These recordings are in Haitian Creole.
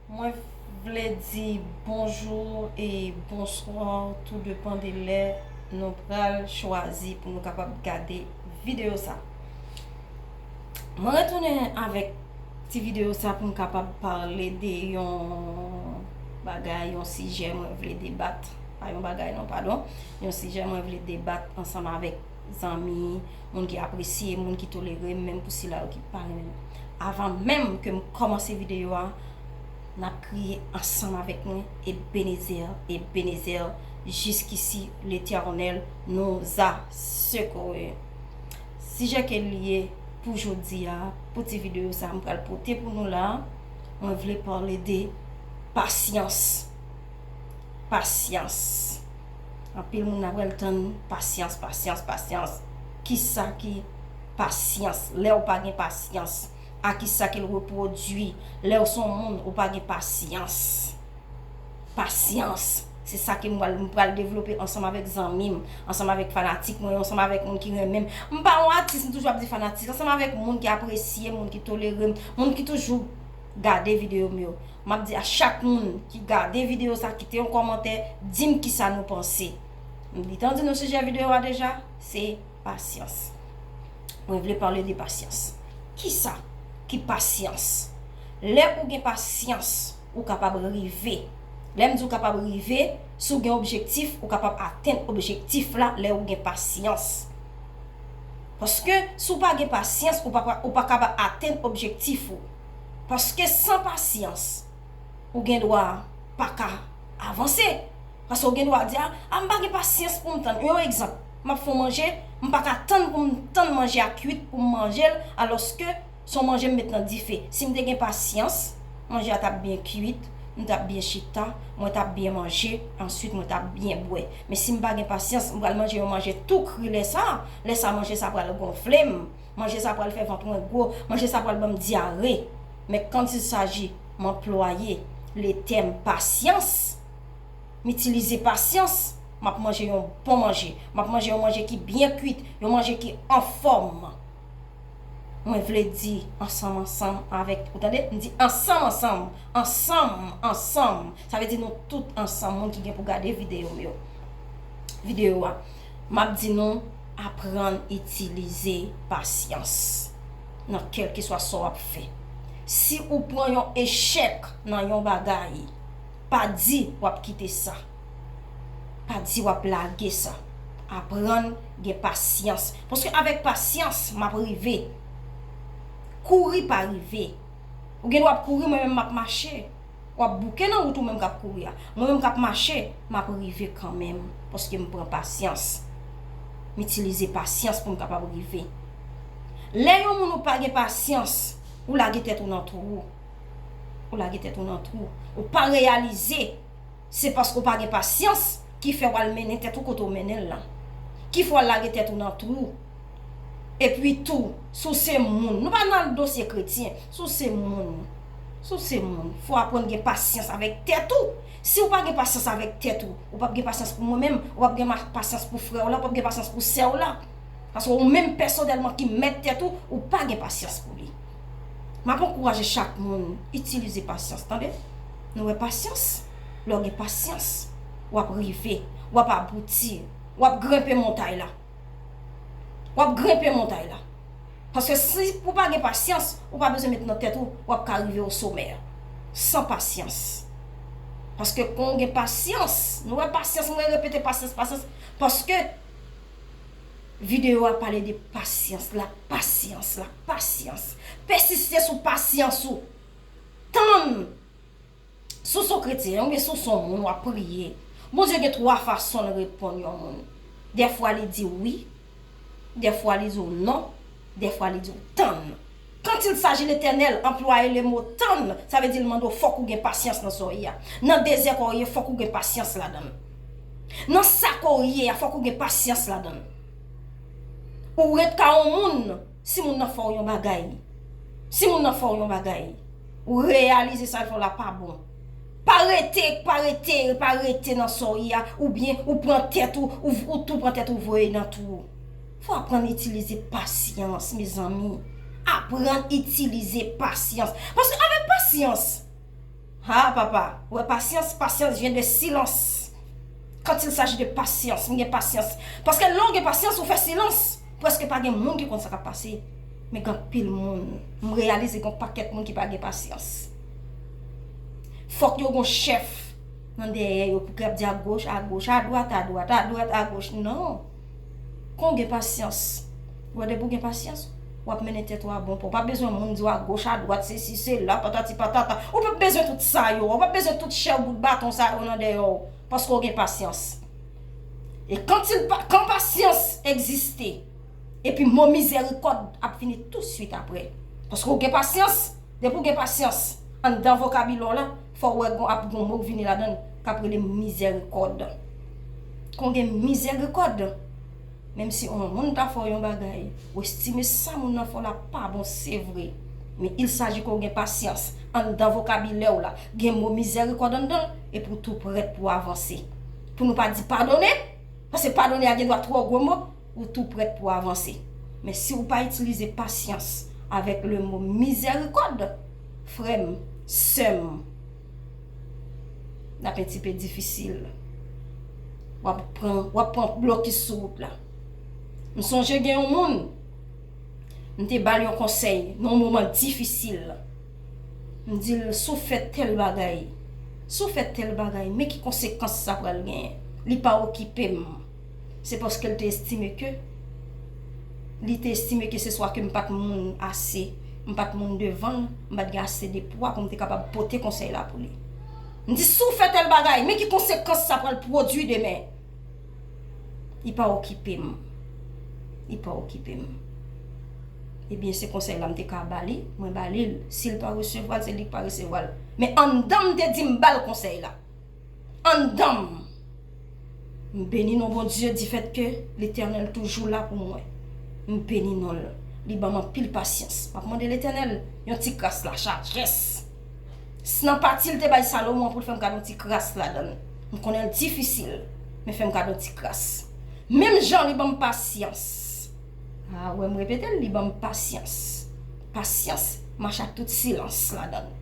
Mwen vle di bonjou e bonswa tou depan de lè nou pral chwazi pou nou kapab gade videyo sa. Mwen retounen avèk ti videyo sa pou m kapab pale de yon bagay, yon sijè mwen vle debat, pa yon bagay non padon, yon sijè mwen vle debat ansanm avèk. zanmi, moun ki apresye, moun ki tolere m, menm pou sila yo ki pa renmen m. Avan menm ke m kòmanse videyo a, n ap kriye ansanm avèk mwen, Ebenezer, Ebenezer, jiskisi Letènèl nous a secourus. Sijè ke li ye pou jodi a, pou ti videyo sa a m pral pote pou nou la, mwen vle pale de pasyans. Pasyans. Anpil moun ap rèl tann pasyans pasyans pasyans kisa ki pasyans lèw pa gen pasyans a kisa kel repwodwi lèw son moun ou pa gen pasyans pasyans se sa ke mwen pral devlope ansanm avèk zanmim ansanm avèk fanatik mwen yo ansanm avèk moun ki renmenm m pa yon atis m toujou ap di fanatik ansanm avèk moun ki apresyem moun ki tolerem moun ki toujou gade video m yo map di a chak moun ki gade video sa kite yon kòmantè dim kisa nou panse m gentan di nou sijè video a deja se pasyans mwen vle pale de pasyans kisa ki pasyans lè ou gen pasyans ou kapab rive lè m di ou kapab rive si ou gen objektif ou kapab atenn objektif la lè ou gen pasyans paske si ou pa gen pasyans ou pa kapab atenn objektif ou. Paske san pasyans ou gen dwa pa ka avanse. Paske ou gen dwa di a, a m pa gen pasyans pou m tann. Yon egzanp, m ap fè yon manje, m pa ka tann pou m tann manje a kuit pou m manje l alòske se yon manje m met nan dife. Si m te gen pasyans, manje a t ap byen kuit, m t ap byen chita, mwen t ap byen manje, answit mwen t ap byen bwè. Men si m pa gen pasyans, m pral manje yon manje tou kri lè sa a, lè sa a manje sa a pral gonfle m. Manje sa pral fè vant mwen gwo, manje sa pral banm dyare. Men quand il s'agit m anplwaye le tèm pasyans, m itilize pasyans, m ap manje yon bon manje, m ap manje yon manje ki byen kuit, yon manje ki anfòm. Mwen vle di ansanm ansanm avèk, ou tande, m di ansanm ansanm, ansanm ansanm, sa vle di nou tout ansanm moun ki gen pou gade videyo m yo, videyo a. M ap di nou, aprann itilize pasyans nan kèlkeswa sa w ap fè. Si ou pran yon echèk nan yon bagay, pa di w ap kite sa. Pa di w ap lage sa. Aprann gen pasyans. Paske avèk pasyans, m ap rive. Kouri pa rive. Ou gen dwa ap kouri, mwen menm m ap mache. Wap bouke nan wout ou menm kap kouri a. Mwen menm kap mache, map rive kanmenm paske m pran pasyans. M itilize pasyans pou m kapab rive. Lè yon moun ou pa gen pasyans, ou lage tèt ou nan twou. Ou lage tèt ou nan twou. Ou pa reyalize. Se paske w pa gen pasyans ki fè w al mennen tèt ou kote w mennen l lan. Ki fè w al lage tèt ou nan twou. Epi tou, si w se moun, nou pa nan dosye kretyen, si w se moun, si w se moun, fò w aprann gen pasyans avèk tèt ou. Si w pa gen pasyans avèk tèt ou, ou p ap gen pasyans pou mwen menm, ou p ap gen pasyans pou frè w lan, ou p ap gen pasyans pou sè w lan. Paske ou menm pèsonèlman ki mèt tèt ou, ou pa gen pasyans pou li. M ap ankouraje chak moun itilize pasyans tande. Nou wè pasyans, lè w gen pasyans, w ap rive, w ap abouti, w ap grenpe montay la. W ap grenpe montay la. Paske si ou pa gen pasyans, ou pa bezwen met nan tèt ou, w ap ka rive o somè a. San pasyans. Paske kon ou gen pasyans, nou wè pasyans, mwen repete pasyans, pasyans, paske. Video a pale de pasyans, la pasyans, la pasyans. Pèsiste sou pasyans ou. Tann. Si w se yon kretyen, ou byen si w se yon moun w ap priye, Bondye gen twa fason l reponn yon moun. Dèfwa li di w wi, dèfwa li di w non, Dèfwa li di w tann. Quand il s'agit l'Etènèl, anplwaye lemo tann, sa vle di l mande w fòk ou gen pasyans nan sa w ye a. Nan dezè kò w ye, fòk ou gen pasyans ladan l. Nan sa kò w ye a, fòk ou gen pasyans ladan l. Ou ret ka yon moun, si moun nan fè w yon bagay, si moun nan fè w yon bagay, ou reyalize sa l fè w la pa bon. Pa rete, pa rete, pa rete nan sa w ye a, oubyen ou pran tèt ou, ou tou pran tèt ou voye nan twou. Fò aprann itilize pasyans mezanmi Aprann itilize pasyans Paske avèk pasyans Ha papa Ou wè pasyans Pasyans vyen de silans Kant il saji de pasyans M gen pasyans Paske lè ou gen pasyans ou fè silans Prèske pa gen moun ki konn sa k ap pase Men gen anpil moun M reyalize gen yon pakèt moun ki pa gen pasyans Fòk yo gen yon chèf Nan dèyè yo pou k ap di agoch agoch Adwat adwat Adwat agoch Non Kon w gen pasyans, wè depi w gen pasyans, w ap mennen tèt ou a bon pa, ou pa bezwen moun di w agoch adwat sesi sela patati patata, ou p ap bezwen tout sa yo, ou p ap bezwen tout chèw bout baton sa yo nan dèyè w paske w gen pasyans. E kan ti l pa, kan pasyans egziste epi mo mizèrikòd ap vini tousuit aprè paske w gen pasyans, depi w gen pasyans anndan vokabilè w la. Fòw wè gon ap gon mo k vini ladann kap rele mizèrikòd. Kon gen mizèrikòd. Menm si on moun ta fè w yon bagay, ou estime sa moun nan fè w la pa bon se vre. Men il saji ke w gen pasyans. Anndan vokabilè w la, gen mo mizèrikòd anndan l epi w tou prèt pou w avanse. Pou nou pa di padone, paske padone a gendwa twò gwo mo. ou tou prèt pou avanse. Men si ou pa itilize pasyans avèk le mo mizèrikòd, frè m, sè m, l ap entipè difisil. W ap pran, w ap pran blokis sou wout la. M sonje gen yon moun, m te ba l yon konsèy nan yon moman difisil. M di l, si w fè tèl bagay, si w fè tèl bagay, men ki konsekans sa pral genyen. Li pa okipe m. Se paske l te estime ke, li te estime ke se swa ke m pa t moun ase, m pa t moun devan l, m pa t gen ase de pwa pou m te kapab pote konsèy la pou li. M di, si w fè tèl bagay, men ki konsekans sa pral pwodui demen. Li pa okipe m. Li pa okipe m. Ebyen, se konsèy la m te ka ba li, mwen ba li l. Si l pa resevwa l, se li k pa resevwa l. Men anndan m te di m ba l konsèy la. Anndanm. M beni non Bondye difèt ke Letènèl toujou la pou mwen. M beni non l. Li banm anpil pasyans. Map mande Letènèl yon ti kras la chajès. S nan pati l te bay Salomon an pou l fè m gad yon ti kras ladan l. M konnen l difisil, men fè m gad yon ti kras. Menm jan li banm pasyans. A wè m repete l, li banm pasyans. Pasyans mache ak tout silans ladan l.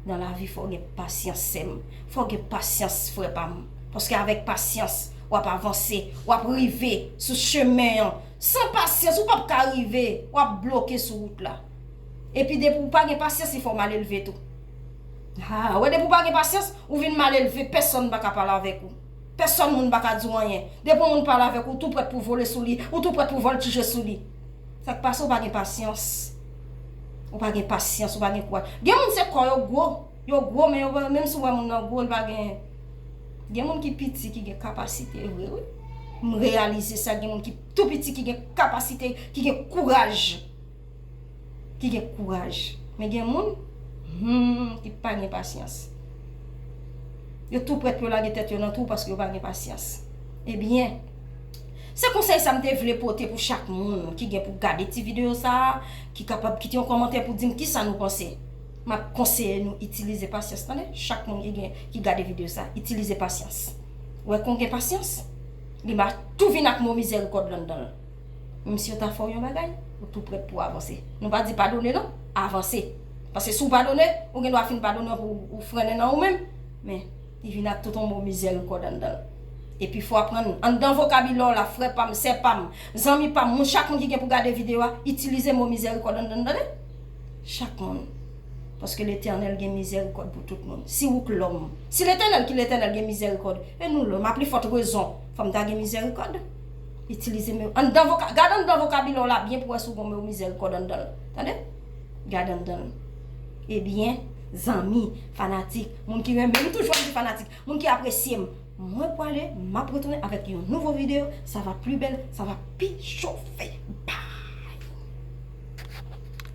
Nan lavi fòw gen pasyans sèm, fòw gen pasyans frè pam, paske avèk pasyans wap avanse, wap rive sou chemen an, san pasyans ou pap ka rive, wap bloke sou wout la. Epi depi ou pa gen pasyans li fòw malelve tou. Ha, wè depi ou pa gen pasyans, ou vin malelve, pèsòn pa ka pale avèk ou, pèsòn moun pa ka di w anyen, depi yon moun pale avèk ou, ou tou prèt pou vole sou li, ou tou prèt pou vòltije sou li. Sak pase ou pa gen pasyans. Ou pa gen pasyans ou pa gen kouraj. Gen moun se kò yo gwo. Yo gwo men yo pa menm si ou wè moun nan gwo li pa gen Gen moun ki piti ki gen kapasite vre wi. M reyalize sa gen moun ki tou piti ki gen kapasite ki gen kouraj. Ki gen kouraj. Men gen moun humm ki pa gen pasyans. Yo tou prèt pou yo lage tèt yo nan twou paske yo pa gen pasyans. Ebyen Se konsèy sa m te vle pote pou chak moun ki gen pou gade ti videyo sa a, ki kapab kite yon kòmantè pou di m kisa nou panse. M ap konseye nou itilize pasyans tande, chak moun ki gen ki gade videyo sa a, itilize pasyans. Ou wè kon w gen pasyans, li va tou vin ak mo mizèrikòd landan l. Menm si yo ta fè w yon bagay, ou tou prèt pou w avanse. Nou pa di padone non, avanse. Paske si w padone, ou gen dwa fin padone anpi ou frennen nan ou menm. Men. Li vin ak tout on mo mizèrn kòd anndan l. E pi fò aprann anndan vokabilè w la, frè pa m, sè pa m, zanmi pa m, moun chak moun ki gen pou gade videyo a, itilize mo mizèrikòd anndan l tande. Chak moun. Paske Letènèl gen mizèrikòd pou tout moun. Si wouk lòm. Si Letènèl ki Letènèl gen mizèrikòd, e nou lòm, a pli fòt rezon, fò m ta gen mizèrikòd. Itilize mo anndan voka, gad anndan vokabilè w la byen pou wè si w gen on mo mizèrikòd anndan l. Tande. Gad anndan l. Ebyen, zanmi, fanatik, moun ki renmen m, m toujou ap di fanatik, moun ki apresye m, mwen pwale, m ap retounen avèk yon nouvo videyo, sa va pli bèl, sa va pi chofe. Bye!